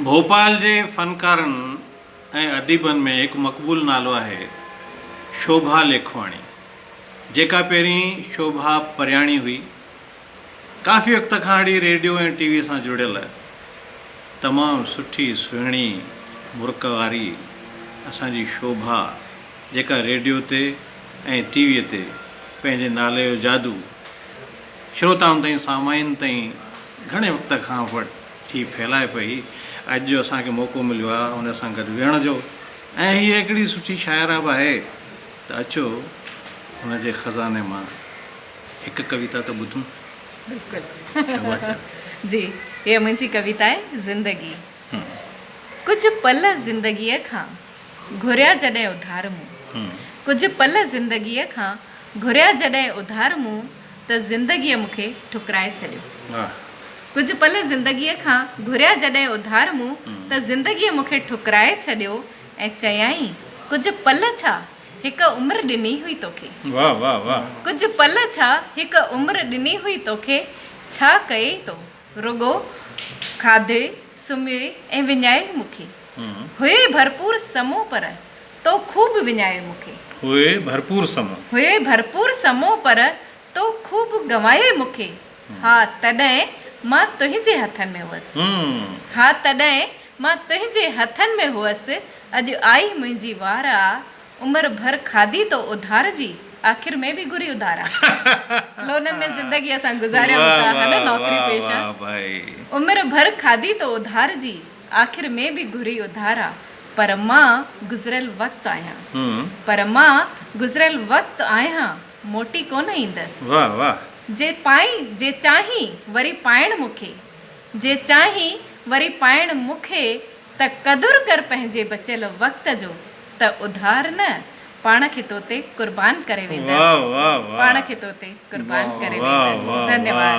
ڀوپال جي فنڪارن ۽ اديبن ۾ هڪ مقبول نالو آهي شوڀا ليکواڻي جيڪا پهرين شوڀا پرياڻي هئي. ڪافي وقت کان اڙي ريڊيو ۽ ٽي وي سان جڙيل تمام سٺي سهڻي مرڪ واري اسان جي شوڀا جيڪا ريڊيو تي ۽ ٽي وي تي پنهنجي نالي جو جادو شروتائن تائين سامعين تائين گهڻي وقت کان وٽ ٿي ڦهلائي پئي. اڄ جو اسان کي موقعو مليو آهي هن سان گڏ ويهڻ جو ۽ هيء اهڙي سٺي شاعره به آهي ته اچو هن جي خزاني مان هڪ ڪويتا ته ٻڌون. بلڪل شوبا جان. جي هيء منهنجي ڪويتا آهي زندگي. ڪجهه پل زندگيء کان گهريا جڏهن اڌار مون. ڪجهه پل زندگيء کان گهريا جڏهن اڌار مون. ته زندگيء مون کي ٺڪرائي ڇڏيو. ڪجهه پل زندگيء کان گهريا جڏهن اڌار مون ته زندگيء مون کي ٺڪرائي ڇڏيو ۽ چيائين ڪجهه پل ڇا هڪ عمر ڏني هئي توکي ڪجهه پل ڇا هڪ عمر ڏني هئي توکي ڇا ڪيئي تو رڳو کاڌئي، سمهيئي ۽ وڃائي مون کي. هئي ڀرپور سمو پر، تو خوب وڃائي مون کي. هئي ڀرپور سمو. هئي ڀرپور سمو پر، تو خوب گنوائي مون کي. ها تڏهن مان تنهنجي هٿن ۾ هئس. ها تڏهن مان تنهنجي هٿن ۾ هئس، اڄ آئي منهنجي وار آ. عمر ڀر کاڌي تو اڌار جي، آخر ۾ به گهري اڌارا. لونن ۾ زندگي اسان گذاريون ٿا ها نه نوڪري پيشه. عمر ڀر کاڌي تو اڌار جي، آخر ۾ به گهري اڌارا. پر مان گذريل وقت آهيان. پر مان گذريل وقت آهيان، موٽي ڪونه ايندس. جي پائين، جي چاهين وري پائڻ مون کي. جي چاهين وري پائڻ مون کي، ته قدر ڪر پنهنجي بچيل وقت جو ته اڌار نه پاڻ کي تو تي قربان ڪري ويندس پاڻ کي تو تي قربان ڪري ويندس ڌنيواد.